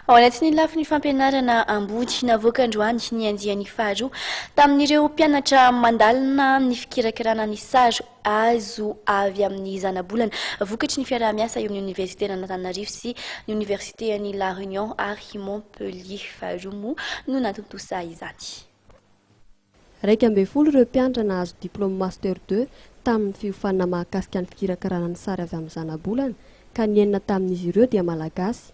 Ao anatin'ny lafiny fampianarana ambony, navoaka androany ny andiany faharoa tamin'ireo mpianatra mandalina ny fikirakirana ny sary azo avy amin'ny zanabolana vokatry ny fiaraha-miasa eo amin'ny Oniversiten'Antananarivo sy ny Oniversitean'i La Réunion ary Montpellier. Faharoa moa no natontosa izany. Iraika ambin'ny folo ireo mpianatra nahazo diplaoma Master deux tamin'ny fiofanana mahakasika ny fikirakarana ny sary avy amin'ny zanabolana ka ny enina tamin'izy ireo dia Malagasy.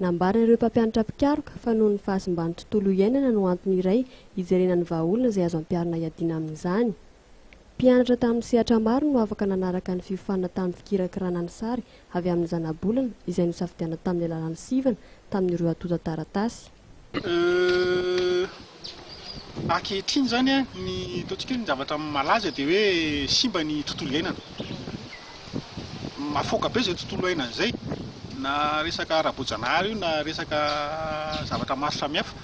Nambaran'ireo mpampianatra mpikaroka fa noho ny fahasimban'ny tontolo iainana no antony iray hijerena ny vahaolana izay azo ampiharina hiadiana amin'izany. Mpianatra tamin'ny sehatra maro no afaka nanaraka ny fiofanana tamin'ny fikirakarana ny sary avy amin'ny zanabolana izay nosafidianina tamin'ny alalan'ny sivana tamin'ireo antontan-taratasy. Ankehitriny izany ny ataontsika hoe ny zavatra malaza dia hoe simba ny tontolo iainana. Mahafaoka be izay tontolo iainana izay, na resaka ara-boajanahary io na resaka zavatra maro samihafa.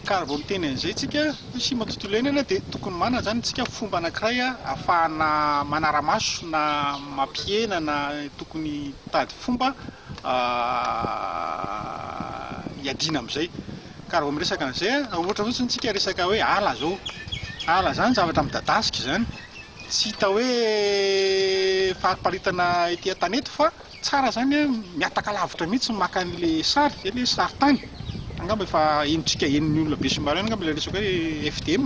Ka raha vao miteny an'izay isika hoe simba ny tontolo iainana dia tokony manana izany isika fomba anankiray ahafahana manara-maso na mampihena na tokony hitady fomba hiadiana amin'izay. Ka raha vao miresaka an'izay, ohatra fotsiny isika resaka hoe ala izao. Ala izany zavatra midadasika izany. Tsy hita hoe fariparitana ety an-tany eto fa tsara izany hoe mihataka lavitra mihitsy maka an'ilay sary, izay ilay sarintany. Angamba efa henontsika henon'ny olona be sy maro ihany angamba ilay resaka hoe FDM,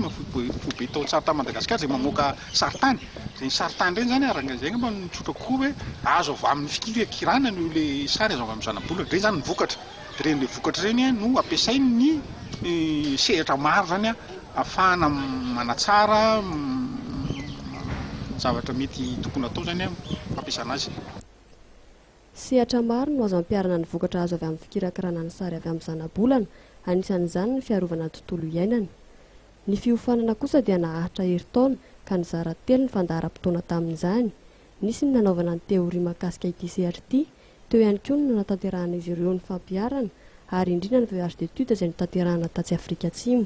foibe taon-tsary tany Madagasikara izay mamoaka Sarintany, izay sarintany ireny izany ary izay angamba no tsotra kokoa hoe azo avy amin'ny fikira kirana no ilay sary azo avy amin'ny zana-bolana, dia izay izany no vokatra, dia ireny ilay vokatra ireny no ampiasain'ny sehatra maro izany ahafahana manatsara ny zavatra mety tokony hatao izany fampiasana azy. Sehatra maro no azo ampiharana ny vokatra azo avy amin'ny fikirakirana ny sary avy amin'ny zana-bolana, anisan'izany ny fiarovana ny tontolo iainana. Ny fiofanana kosa dia naharitra herintaona ka nizara telo ny fandaharam-potoana tamin'izany. Nisy ny nanaovana ny teoria mahakasika ity sehatra ity, teo ihany koa ny nanatanterahan'izy ireo ny fampiharana ary indrindra ny voyage d'études izay notanterahana tatsy Afrika Atsimo.